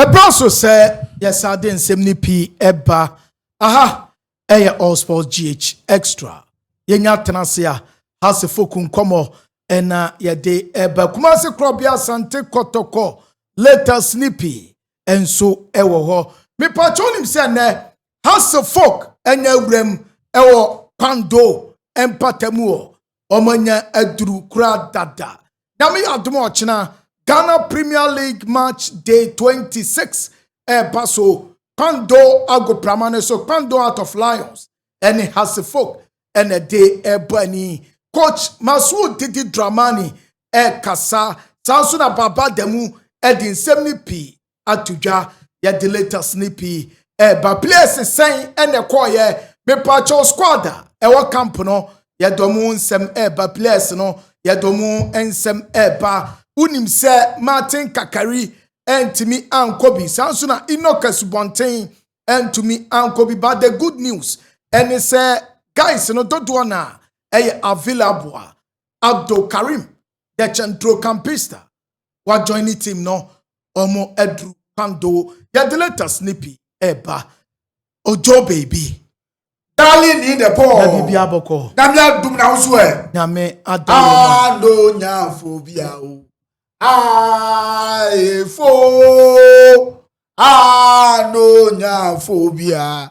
ɛberɛ nso sɛ yɛsan de nsɛm no pii ɛba aha ɛyɛ all sports gh extra yɛnya tena ase a hasefoku nkɔmmɔ ɛna yɛde ɛba kumase korɔbea asante kɔtɔkɔ latest ne pii nso ɛwɔ hɔ mepakyɛ wonim sɛ nnɛ hasefok ɛnya awuram ɛwɔ kwando ɛmpata mu hɔ wɔn anya aduru koraa dada nyame yɛ adom ɔkyena ghana premier league match day 26 ɛɛba so kpando agoprama no so kpando out of lions ɛne hasefok ɛna de ɛɛbɔ ani coach masuo didi dramani ɛɛkasa saa nso na baba da mu ɛde nsɛm no pii ato dwa yɛde latest ne pii ɛba players sɛn ɛna ɛkɔɔyɛ mepaakyɛw squad a ɛwɔ camp no yɛde ɔmo nsɛm ɛba players no yɛde ɔmo nsɛm ɛba wonim sɛ martin kakari ɛntumi ankɔ bi saa nso na enoch asubɔnten ɛntumi ankɔ bi but the good news ɛne sɛ guys no dodoɔ na ɛyɛ available a abdul karim the centrocampista wa join ne team no ɔmo aduru kwando yɛde letters ne pii ɛba ojo baby darling ni the ball na bibi abɔkɔ nyame adum na nso ɛ nyame adɔ yɛ ma ado nyafo bi a o aefo ano nyafo bi a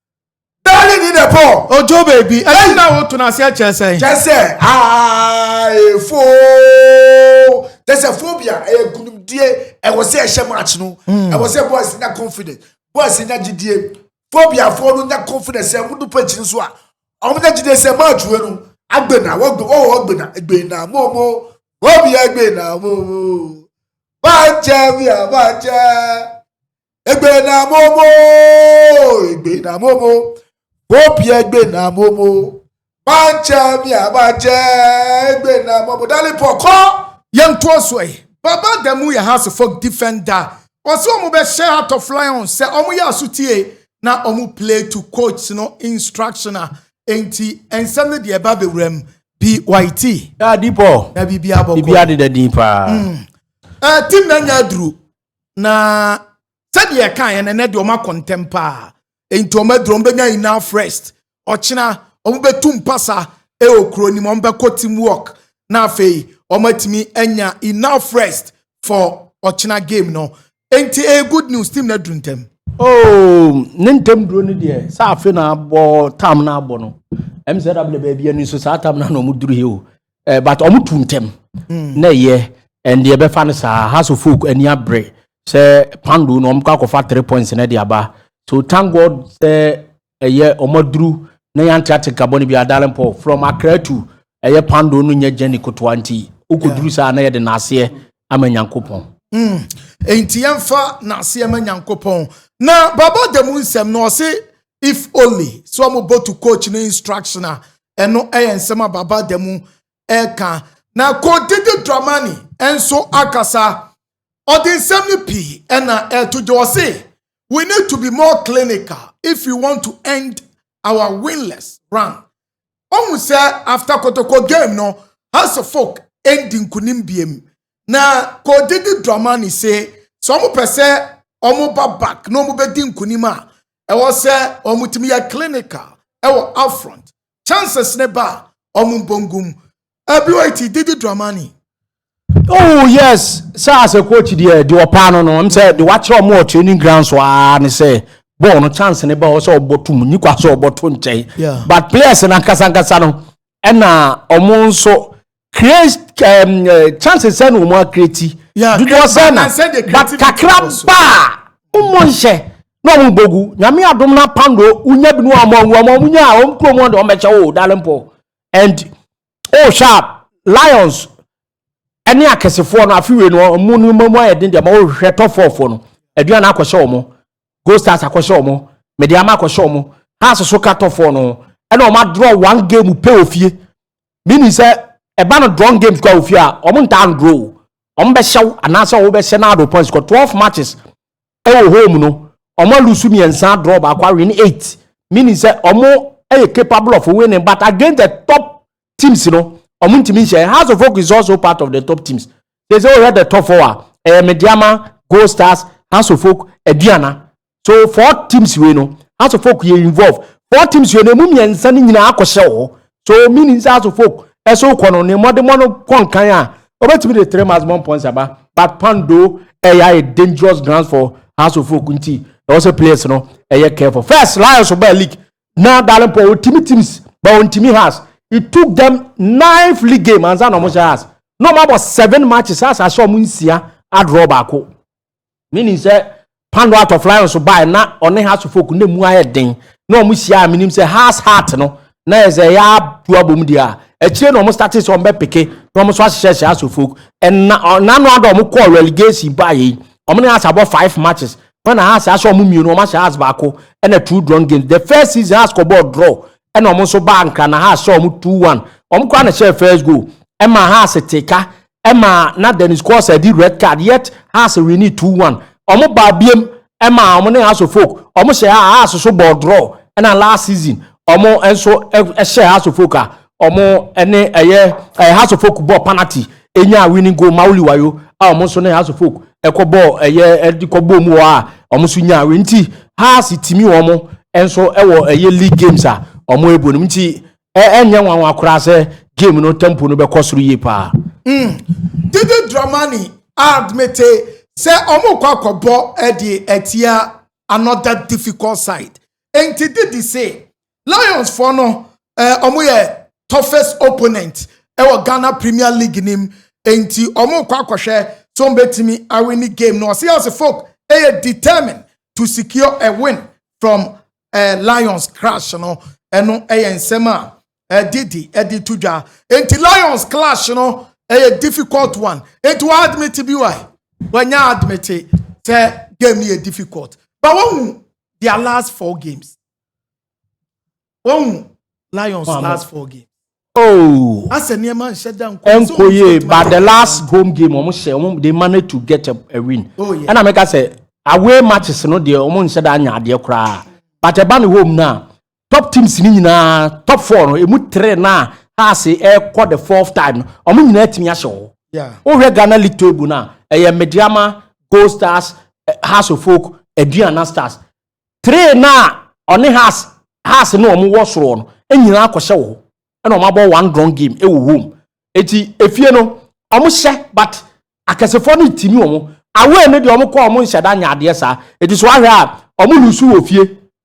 Bɛɛli ni dɛ pɔ. Ojo beebi. Ɛyɛ na woto no aseɛ kyerɛ sɛn? Kyerɛ sɛ aefo. Kyerɛ sɛ phobia ɛyɛ nkunimdie ɛwɔ sɛ ɛhyɛ match no. Hmm. Ɛwɔ sɛ boys nya confidence. Boys nya gyidie. Phobiafoɔ no nya confidence sɛ wɔdu pitch no so a. Wɔn nya gyidie sɛ match wei no agbena wɔgbe wɔwɔ agbena agbena momo phobia agbena momo. Bàjẹ́ mi àbàjẹ́. Egbe na momo, egbe na momo, bopi egbe na momo, banche mi abache, egbe na momo, dali poko. Yɛn to so ɛ. Baba da mu yɛ house folk defender. Ɔsɛ wɔn bɛ hyɛ Heart of Lion sɛ wɔn yɛ asotie na wɔn play to coach no instruction a enti nsɛm no deɛ ɛba bɛwura mu. BYT. Daa deep o. Na biribi abɔ kɔ. Biribi adeda din paa. Mm. Uh, team na nya aduru. na sɛdeɛ ɛkaeɛ no ɛnɛ deɛ ɔma kɔntɛm paa nti ɔma aduro ɔmo bɛnya enough rest ɔkyena ɔmo bɛtu mpasa ɛwɔ kuro no mu ɔmo bɛkɔ team work na afei ɔmo atumi anya enough rest for ɔkyena game no nti ɛyɛ good news team no aduru ntɛm. Oh, ne ntɛm duro no deɛ sɛ afe na abɔ tam na abɔ no ɛm sɛ dabla baabi ani nso saa tam na na ɔmo duru he o Eh, but ɔmo tu ntɛm hmm. na ɛyɛ ɛnde ɛbɛfa no saa house of folk ani abere sɛ pando na ɔmo kɔ akɔfa three points na ɛde aba so thank god sɛ ɛyɛ ɔmo aduru na yɛn ate nka bɔ ne bi adalen paul from akra to ɛyɛ pando no nyɛ jenny kotoa nti okɔduru saa na yɛde n'aseɛ ama nyankopɔn. Hmm. nti yɛmfa n'aseɛ ma nyankopɔn na baba da mu nsɛm na ɔse if only sɛ wɔn go to coach ne instruction a ɛno yɛ nsɛm a baba da mu ɛka na coach didi dramani nso akasa ɔde nsɛm no pii ɛna ɛto gye ɔse we need to be more clinical if we want to end our winless run ɔhu sɛ after kotoko game no house of folk ɛndi nkunim biem na coach didi dramani se sɛ wɔn pɛ sɛ wɔn ba back na wɔn bɛdi nkunim a ɛwɔ sɛ wɔn tumi yɛ clinical ɛwɔ upfront chances ne ba a wɔn mbɔngum ɛbi wɔ eti didi dramani. oh yes sɛ as a coach deɛ deɛ ɔpaa no no m sɛ deɛ wakyerɛ ɔmo wɔ training ground so aa ne sɛ bɔɔl no chance ne ba ɔ sɛ ɔbɔ to mu nyi kwa sɛ ɔbɔ to nkyɛn but players no ankasankasa no ɛna ɔmo nso Create um, uh, chances sɛ na wɔn akreti dodoɔ sɛ na but kakra baa wɔn nhyɛ na wɔn bogu nyame adom na pando wonya bi no wɔn wɔn wɔn wɔn nya wɔn kurom wɔn de wɔn bɛkyɛ o darling paul and o sharp lions ɛne akɛsefoɔ no afewie no mu no mu ayɛ den deɛ ma wɔhwehwɛ top four foɔ no aduane akɔhyɛ wɔn gold stars akɔhyɛ wɔn mediama akɔhyɛ wɔn haase so ka top four no ɛna wɔn adorɔ one game pɛ ofie. meaning sɛ ɛba no drone games kɔ a ofie a wɔn ntaa ndoro o wɔn bɛhyɛw anaasɛ wɔn bɛhyɛ na ado points kɔ twelve matches ɛwɔ home no wɔn alusu mmiɛnsa draw baako awin eight meaning sɛ wɔn ɛyɛ capable of winning but against the top teams no wɔn ntumi nhyɛ house of folk is also part of the top teams they say wɔyɛ the top four a ɛyɛ mediama gold stars house of folk aduana so four teams wei no house of folk yɛ involve four teams wei no emu mmiɛnsa no nyinaa akɔhyɛ wɔ hɔ so meaning sɛ house of folk ɛso kɔ no ne mmɔdemmɔ no kɔ nkan a obetumi de three months bɔ mpɔnsa ba but pando ɛyɛ ayɛ dangerous grounds for house of folk nti ɛwɔ sɛ players no ɛyɛ careful first lions ɔbaa league na darling paul otimi teams but ontimi house it took them nine league game ansa na ɔmo hyɛ house na ɔmo abɔ seven matches house ahyɛ ɔmo nsia adraw baako. menim sɛ pando out of lion so bae na ɔne house of folk na mu ayɛ den na wɔn hyia a menim sɛ house heart no na yɛ sɛ ɛyɛ atu abom deɛ a akyire na wɔn started sɛ wɔn bɛ peke na wɔn nso ahyehyɛ hyɛ house of folk ɛna ɔnano ada wɔn kɔɔ relegation baeɛ yi wɔn ne house abɔ five matches wɔn na house ahyɛ wɔn mmienu wɔn ahyɛ house baako ɛna two drawn games the first season house kɔ bɔɔl draw ɛna wɔn nso baa nkra na house hyɛ wɔn two one wɔn kora na hyɛ first goal ɛma house teka ɛma na Dennis Kosel di red card yet Hearts winni two one. Wɔn baa biem ɛma wɔn ne House of Oak wɔn hyɛ a Hearts so bɔɔ draw ɛna last season wɔn nso ɛhyɛ House of Oak a wɔn ne ɛyɛ ɛyɛ House of Oak bɔɔ penalty enya winning goal Mauli Wayo a wɔn nso ne House of Oak ɛkɔ bɔɔ ɛyɛ ɛde kɔ bɔɔ mu wɔ a wɔn nso nya win nti Hearts timi wɔn nso ɛwɔ ɛyɛ league games a wɔn ɛbɔ no mu nti Ɛnyɛ nwanwa koraa sɛ game no tempo no bɛkɔ soro yie paa. Mm. Dede Dramani admite sɛ ɔmo kɔ akɔbɔ de atia another difficult side. Enti Dede se Lions foɔ no eh, ɔmo yɛ toughest opponent ɛwɔ Ghana Premier League nim. Enti ɔmo kɔ akɔhwɛ sɛ ɔmo betumi awini game no. Ɔse Asafok ɛyɛ determined to secure a win from eh, lions crash no ɛno ɛyɛ nsɛm a ɛdidi eh, ɛde eh, to dwa nti lions clash no ɛyɛ eh, difficult one nti wɔn admit bi wa wɔnyɛ admit sɛ game no yɛ difficult but wɔn mu their last four games wɔn mu lions oh, last four games. Oh! Ɛnkɔ yie but the last home game wɔn hyɛ wɔn they managed to get a, a win. Oh, yeah. Ɛna meka sɛ away matches no deɛ wɔn nhyɛ da anya adeɛ koraa but ɛba ne home no a top teams ni nyinaa top four no emu three na Hearts ɛkɔ the fourth time no wɔn nyinaa tumi ahyɛ hɔ. Yeah. Wohwɛ Ghana league table no a ɛyɛ Medeama, Gold Stars, eh, Hearts of Oak, Aduana Stars. Tray no a ɔne Haas Haas ne wɔn wɔ soro hɔ no nyinaa akɔhyɛ wɔ hɔ. Ɛna wɔn abɔ one drawn game ɛwɔ home. Eti efie no wɔn hyɛ but akɛsefoɔ no retimi wɔn. Away no deɛ wɔn kɔ a wɔn nhyɛ da nyɛ adeɛ saa. Eti so wahwɛ a wɔn lusu wɔ fie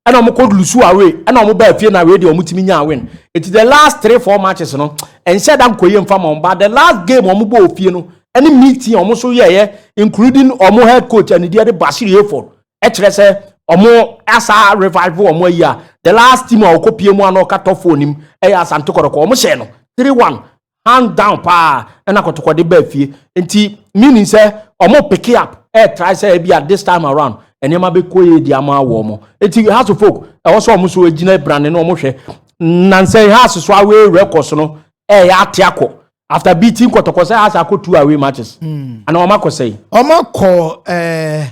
ɛna wɔn kɔ lusu away ɛna wɔn baa fie na away deɛ wɔn timi nyaa win. Eti the last three four matches no nhyɛ da nkɔ yie nfa ma wɔn but the last game wɔn bɔɔ fie no ɛne meeting a wɔn nso yɛɛyɛ including wɔn head coach ɛne deɛ de Bashir Hayford ɛkyerɛ sɛ ɔmo asa revive ɔmo ayi a the last team a ɔkɔ pie mu a na ɔka top four nim ɛyɛ asante kɔrɔkɔ ɔmo hyɛ no three one hand down paa ɛna kɔtɔkɔde baa fie nti meaning sɛ ɔmo pick up ɛyɛ try sɛ ebi a this time around nneɛma bɛ kɔ yie di ama awɔ ɔmo nti house of folk ɛwɔ sɛ ɔmo so egyina brane na ɔmo hwɛ nansan house so away records no ɛyɛ ate akɔ after beating kɔtɔkɔ sɛ house akɔ two away matches mm. ana ɔmo akɔ sɛyi. ɔmo akɔ ɛɛ. Eh,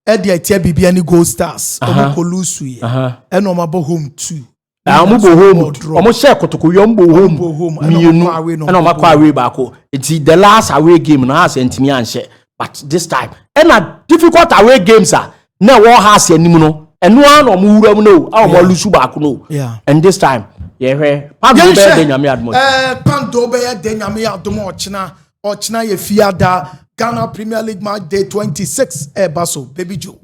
ɛde atia biribiara ne gold stars ɔmo kɔ lusu yɛ ɛna ɔmo abɔ home two na ɔmo bɔ home ɔmo hyɛ kotoko yɛ ɔmo bɔ home mmienu ɛna ɔmo akɔ away baako nti the last away game na ase ntumi anhyɛ but this time ɛna difficult away games a na ɛwɔ ha ase anim no ɛno ara na ɔmo wura mu no a ɔmo alusu baako no and this time yɛhwɛ pando bɛyɛ de nyame adum ɔkyena pando bɛyɛ de nyame adum ɔkyena. ɔkyena yɛ fiada ghana premier league match day 26 ɛba so baby joe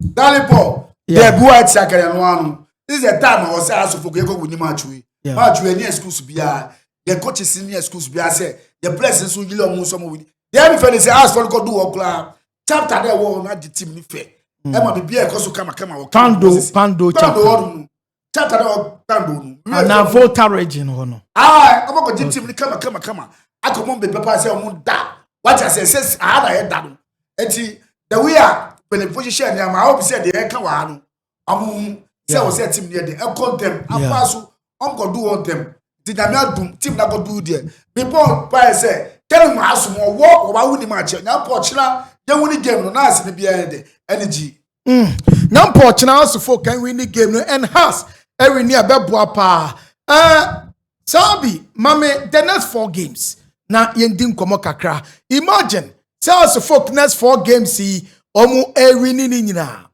dale paul dɛbi wa ɛte akɛrɛ no ano this is the time ɔwɔ sɛ asofo kò yɛkɔ wini match wei match wei ɛni excuse biara the coaches ni excuse biara sɛ the players nso yiri ɔmo nso ɔmo wini dɛbi fɛ ne sɛ asofo no kɔ do wɔ koraa chapter dɛ ɛwɔ hɔ no agye team ne fɛ ɛma bibi a ɛkɔ so kamakama wɔ kando pando chapter pando hɔ nom tata na ɔtando no. ana volta region hɔ no. aa ɔmo kɔ gye team ni kama kama kama akɔ mo mbɛpɛ paa sɛ ɔmo da wate ase ɛsɛ aha na yɛ da no eti the way a mpanyinfo hyehyɛ nneɛma awo bi sɛ deɛ ɛka wɔ ha no ɔmo ho sɛ wɔ sɛ team ni yɛ de ɛkɔ ntɛm afa so ɔmo kɔ do wɔ ntɛm ti nyame adum team na kɔ do deɛ bepɔ paa sɛ kɛne mu asom ɔwɔ ɔba wo ni ma akyɛ nyame pɔ ɔkyerɛ yɛn wo ni game no na ase ne bi ɛyɛ de ɛne gyi. Mm. Na mpo ɔkyena asofo kan win ne game no enhance ɛwi ne ɛbɛboa paa. Ɛɛ Sabi mame the next four games na yɛn di nkɔmɔ kakra. Imagine sɛ asofo next four games yi wɔn ɛwi ne ne nyinaa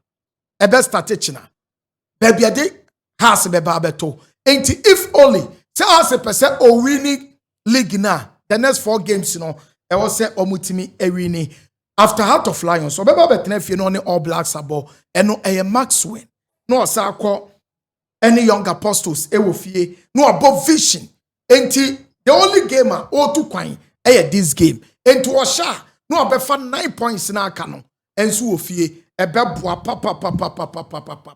ɛbɛ start kyena. Baabi ɛde Hearts bɛba abɛto. Enti if only sɛ Hearts pɛ sɛ owini league no a the next four games no ɛwɔ sɛ wɔtumi awini. After Heart of Lions ɔbɛba abɛtena fie na ɔne All Blacks abɔ ɛno ɛyɛ max win na ɔsan akɔ ɛne Young Apostles ɛwɔ fie na ɔbɔ vision. Enti the only game a ɔretu kwan ɛyɛ this game. Enti ɔhyɛ a na ɔbɛfa nine points na aka no ɛnso wɔ fie ɛbɛboa papapapapapapapa.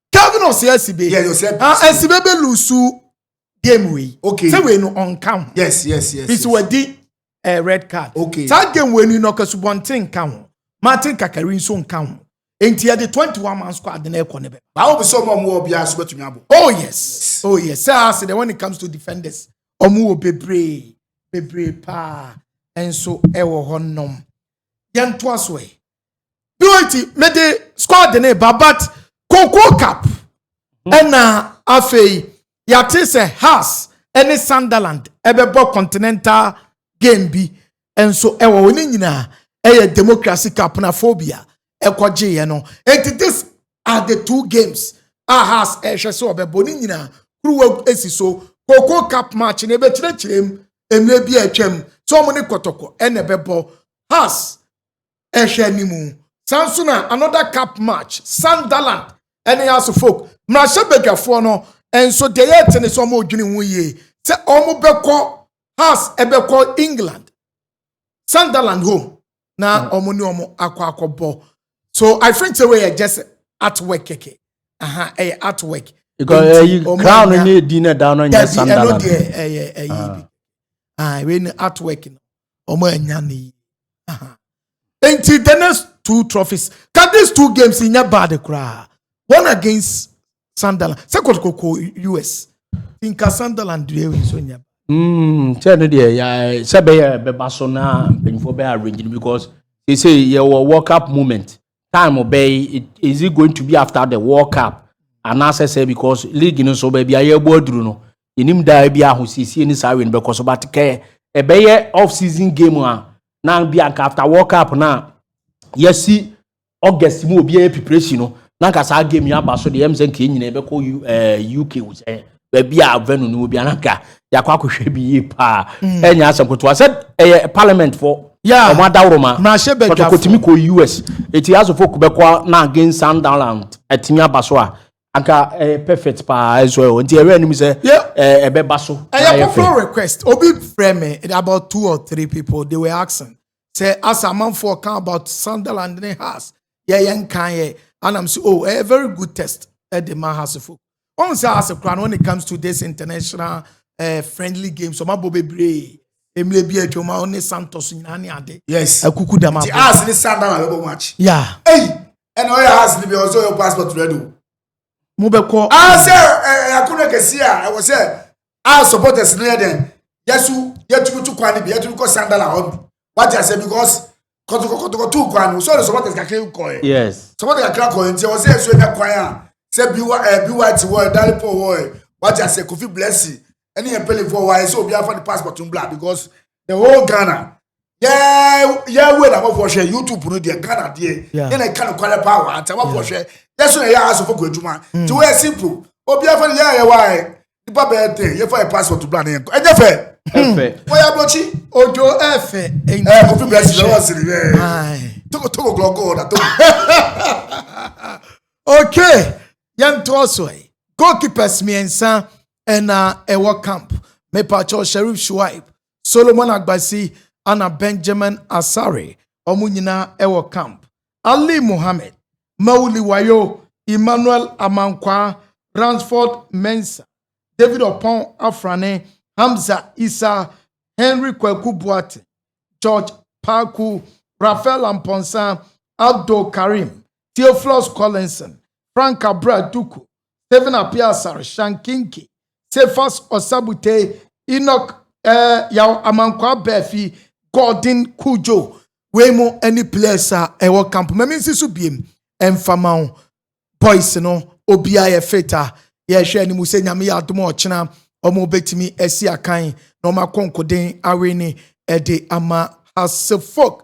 Calvin ɔsɛ asibe. Yeah, ɔsɛ asibe. Ah, asibe bɛ lusu game wei. Okay. Sɛ wei no ɔnka ho. Yes, yes, yes. Bisi wadi ɛɛ eh, red card. Okay. Saa game wei ni na ɔkasubɔnten nka ho. Martin kakari nso nka ho. Nti yɛ de twenty one man squad na ɛkɔ ne bɛ. Baawo bi sɛ ɔmo ɔmo wɔ biara so bɛtumi abɔ. Oh yes, oh yes. Sɛ ase de when it comes to defenders, ɔmo wɔ bebree bebree paa nso ɛwɔ hɔ nom. Yɛn to aso ɛ. doenti mede squad ne ba but cocoa cup hmm. ɛna afei yɛate sɛ has ɛne sunderland ɛbɛbɔ continental game bi nso ɛwɔ hɔ ne nyinaa ɛyɛ democracy cup na phobia ɛkɔgyeeɛ no enti this are the two games a has ɛhwɛ sɛ ɔbɛbɔ ne nyinaa kuruwa esi so cocoa cup match na ɛbɛkyerɛkyerɛ mu mmerɛ bi a atwam sɛ wɔn ne kɔtɔkɔ ɛna ɛbɛbɔ has ɛhwɛ anim. Saa nso na another cup match, Sunderland ɛne Hearts of Oak. Mmarahyɛbadwafoɔ no nso deɛ yɛte ne sɛ wɔn redwene ho yie sɛ wɔn bɛkɔ Hearts ɛbɛkɔ England, Sunderland home na wɔn hmm. ne wɔn akɔ akɔbɔ. So I think sɛ wɔyɛ just at work kɛkɛ, aha ɛyɛ at work. Because ɛyi eh, crown ne di na da no nyɛ Sunderland. Dabi ɛno deɛ ɛyɛ ɛyi bi, ah wei ni at work no. wɔn anya ne yi nti the next two trophies ka these two games nyɛ bad koraa one against sunderland sɛ kɔtɔkɔkɔ us nka sunderland deɛ ewi so nyɛ. Mm, sɛ no deɛ eh, sɛ bɛyɛ bɛba so na mpanyinfoɔ bɛyɛ arrange no because they say yɛwɔ world cup moment time bɛyi is it going to be after the world cup anaasɛ sɛ because league no so baabi a yɛbɔ aduru no Yɛnim da a ebia ahosiesie ne saa wei no bɛkɔ so but kɛ ɛbɛyɛ off season game a na bi anka after world cup na yɛsi august mu obiara preparation no na nka saa game yi aba so deɛ ɛm sɛ nka yɛn nyinaa bɛkɔ uk eh, sɛ baabi a venue no wɔ bi ananka yɛakɔ akɔhwɛ bi yie paa mm. ɛnyɛ asɛm kotoa sɛ ɛyɛ parliament fo wɔn adaworo ma kɔtɔkɔtumi kɔ us eti asofo bɛkɔ na against sunderland atumi aba so a Anka ɛyɛ perfect paa ɛsɔ ɛwɔ nti ɛwɛ anim sɛ ɛbɛ ba so. Ɛyɛ popular request obi frɛ me about two or three people they were asking sɛ asa amanfoɔ kan about Sunderland ne Hearts yɛ yɛn kan yɛ anam sɛ oh ɛyɛ very good test ɛde ma Heartsfo wɔn sɛ Hearts kura no when it comes to this international uh, friendly games wɔn abɔ bebree emire bi atwa wɔn ne Santos nyinaa ne ade yes akuku dama ti Hearts ne Sunderland bɛ bɔ match yeah ɛyi. ɛna ɔyɛ house no bi ɔsɛ ɔyɛ passport ready o mobɛkɔ ah sɛ ɛyɛakono kɛseɛ a ɛwɔ sɛ a supporters no yɛ dɛn yɛso yɛtumi to kwan no bi yɛtumi kɔ sandal a ɔbi wate asɛ because kɔtokɔtokɔto kwan no sɛ ɔde supporters kakra kɔɛ yes supporters kakra kɔɛ nti ɛwɔ sɛ ɛso ɛnya kwan a sɛ biwa ɛbi wa ti wɔ ɛdare pɔ wɔ ɛ wate asɛ kofi blessing ɛne yɛn mpanyinfoɔ wɔ ayɛ sɛ obiara fa ne passport no bla because the whole ghana yɛ yɛ wei na amafoɔ hwɛ youtube no deɛ ghana deɛ yɛ na ɛka no kwarɛ paa wɔ ante amafoɔ hwɛ yɛ so na ɛyɛ asofo kɔ adwuma nti wɔyɛ simple obiara fa ne yɛ ayɛ wɔ ayɛ nipa bɛyɛ ten yɛ fa yɛ passport bla ne yɛn kɔ ɛnyɛ fɛ wɔyɛ aburokyi ojo ɛfɛ ɛɛ kofi bɛrɛ si lɛwɔ siri bɛɛ togo togo gɔgɔ wɔ na togo. okay yɛn to so yi goalkeepers mmiɛnsa. ɛna ɛwɔ camp mepatwɔ sharif shuaib solomon agbasi ana benjamin asare wɔn nyinaa ɛwɔ camp ali mohammed mauli wayo emmanuel amankwaa ransford mensa david ɔpɔn afrane hamza isa henry kwaku boate george paku rafael amponsa abdul karim theophilus collinson frank abra duku Stephen Appiah Asare, Sean Kinke, Cephas Osabutai, Enoch eh, Yaw Amankwah Abafi, Gordon Cudjoe, wei mo ɛne players a ɛwɔ camp ma mensi so biem ɛmfa ma wo boys no obiara yɛ fit a yɛhwɛ anim sɛ nyame yɛ adom a ɔkyena wɔn bɛtumi asi akan na wɔn akɔnkoden awe ne ɛde ama hasefok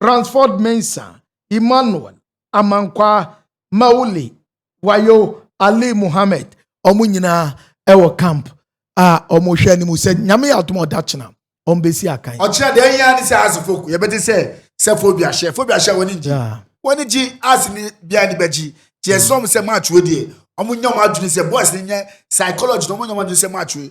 Bransford Mensah, Emmanuel Amankwah, Mauli Wayo, Ali Mohammed, wɔn nyinaa ɛwɔ camp a wɔhwɛ anim sɛ nyame yɛ adom ɔdakyena wɔn bɛsi akan. Ɔkyerɛ deɛ ɛhia ne sɛ ase foko yɛbɛte sɛ sɛ fobia hyɛ fobia hyɛ wɔn ngyi wɔn gyi ase ni bia ni bɛgyi gye ɛsɛ wɔn sɛ match wei deɛ wɔn nyɛ wɔn adwene sɛ boys ni nyɛ psychology na wɔn nyɛ wɔn adwene sɛ match wei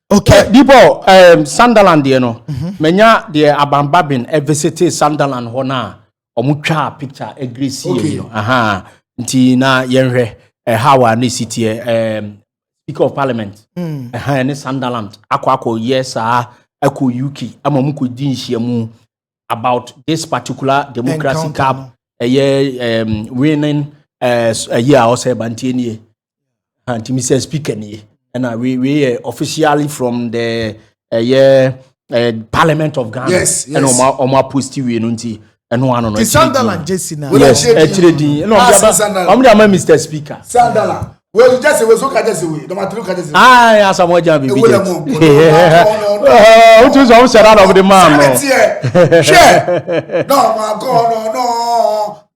Okay. Uh, Dibɔ, um, Sunderland deɛ no, mhm. manya deɛ abamba ben ɛvisite eh, Sunderland hɔ no a, ɔmo twaa picture ɛgresi eh, yɛ no. Aha, nti na yɛnhwɛ ɛha eh, wɔ ne si teɛ um, Speaker of Parliament mm. ɛha ɛne Sunderland akɔ akɔ yɛ saa ɛkɔ UK ama ɔmo kɔ di nhyiamu about this particular democracy cup ɛyɛ um, winning ɛyɛ a ɔsɛ ɛbantie nie. ha nti mesɛ speaker nie ɛna wei wei yɛ officially from the ɛyɛ uh, parliament of ghana yes, yes. ɛna ɔmo ɔmo aposti wei no nti ɛno ano no sandalan jesi na yes ɛkyerɛ din ɛna ɔmo de ama ɔmo de ama mr speaker sandalan wei jesi wei so ka jesi wei dɔmatiri ka jesi wei aa yɛ asamu ɔjà bibi jɛ o tún sọ ɔmo sɛ ɛna ɔmo de maa no hwɛ náà ɔmo akɔ ɔnɔ náà.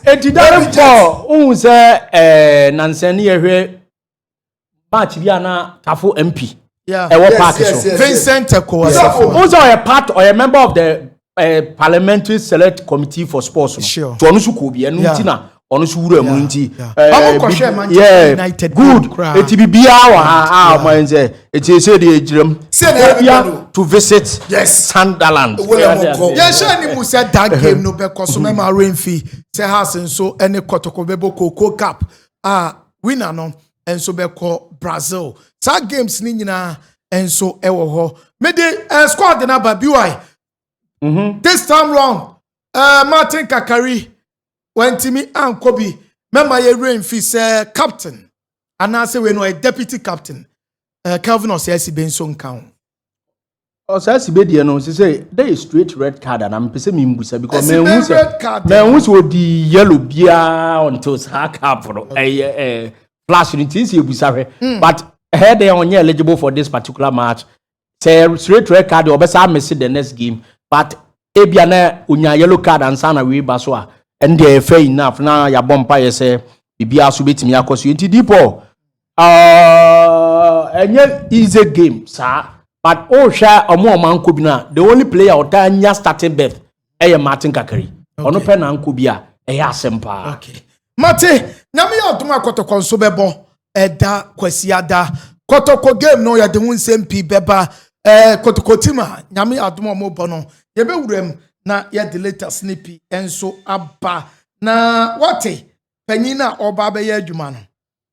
ɛti dare pɔ wohu sɛ eh, nansɛ ne yɛhwɛ match bi a na tafo mp ɛwɔ park so vincent ɛkɔwasɛfo wo sɛ ɔyɛ part ɔyɛ member of the ɛɛ parliamentary select committee for sports no tí ɔno so kɔ bi ɛnu ti na ɔno so wura mu nti ɛɛ yɛ good eti bi biara wɔ ha a ɔmo ayɛ nsɛ eti ese de egyina mu obia to visit Sunderland. yɛn hyɛn ni mu sɛ that game no bɛ kɔ so mɛma renfi sɛ house nso ɛne kɔtɔkɔ bɛ bɔ koko cup a winner no. nso bɛkɔ Brazil. Saa games no nyinaa nso wɔ hɔ. Mede uh, squad no aba BY. Mm -hmm. This time round, uh, Martin Kakari wantumi ankɔ bi. Mɛma yɛwerɛ mfi sɛ captain anaasɛ wei no ɔyɛ deputy captain. Uh, Kelvin Ɔsɛasibe nso nka ho. Ɔ saa sibe deɛ no sɛ that is straight red card ana mepɛ sɛ membusa because manhu sɛ manhu sɛ ɔdi yellow biara until saa cap no ɛyɛ ɛ flash no nti sɛ ɛbusa hwɛ hmm. but ɛhɛ deɛ ɔnyɛ eligible for this particular match sɛ straight red card deɛ ɔbɛsa mese the next game but ebia na ɔnya yellow card ansa na wei ba so a ɛndeɛ ɛfɛ enough na yɛabɔ mpa yɛ sɛ biribiara so bɛtumi akɔ so nti dipɔ Uh, ɛnyɛ easy game saa but wohwɛ ɔmo ɔmo anko bi no a the only player ɔtaa nya starting berth ɛyɛ martin kakari ɔno pɛ na anko bi a ɛyɛ asɛm paa okay. mate nyame yɛ adom a kɔtɔkɔ nso bɛbɔ ɛda kwasiada kɔtɔkɔ game no yɛde ho nsɛm pii bɛba ɛɛ kɔtɔkɔ tim a nyame yɛ adom a wɔbɔ no yɛbɛwura mu na yɛde latest no pii nso aba na wate panyin a ɔba bɛyɛ adwuma no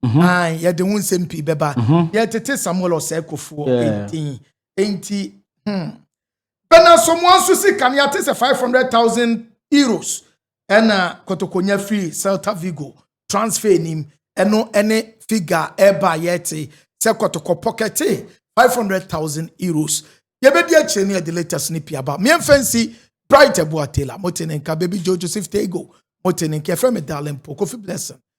Mhm. Ae, yɛde ho nsɛm pii bɛba. Mhm. Yɛtete Samuel ɔsɛe kofoɔ Yeah. ɛdin. Enti, hmm. Bɛna somoa nso si kanea te sɛ 500,000 euros ɛna kotokonya firi Celta Vigo transfer nim ɛno ɛne figa ɛba a yɛte sɛ kɔtɔkɔ pɔkɛte 500,000 euros. Yɛbɛdi akyire ne yɛde latest no pii aba. Meɛmfa nsi Bright Abua Taylor, mote ne nka Baby Joe Joseph Tego, mote ne nka yɛfrɛ me Darling Po, Kofi Blessing,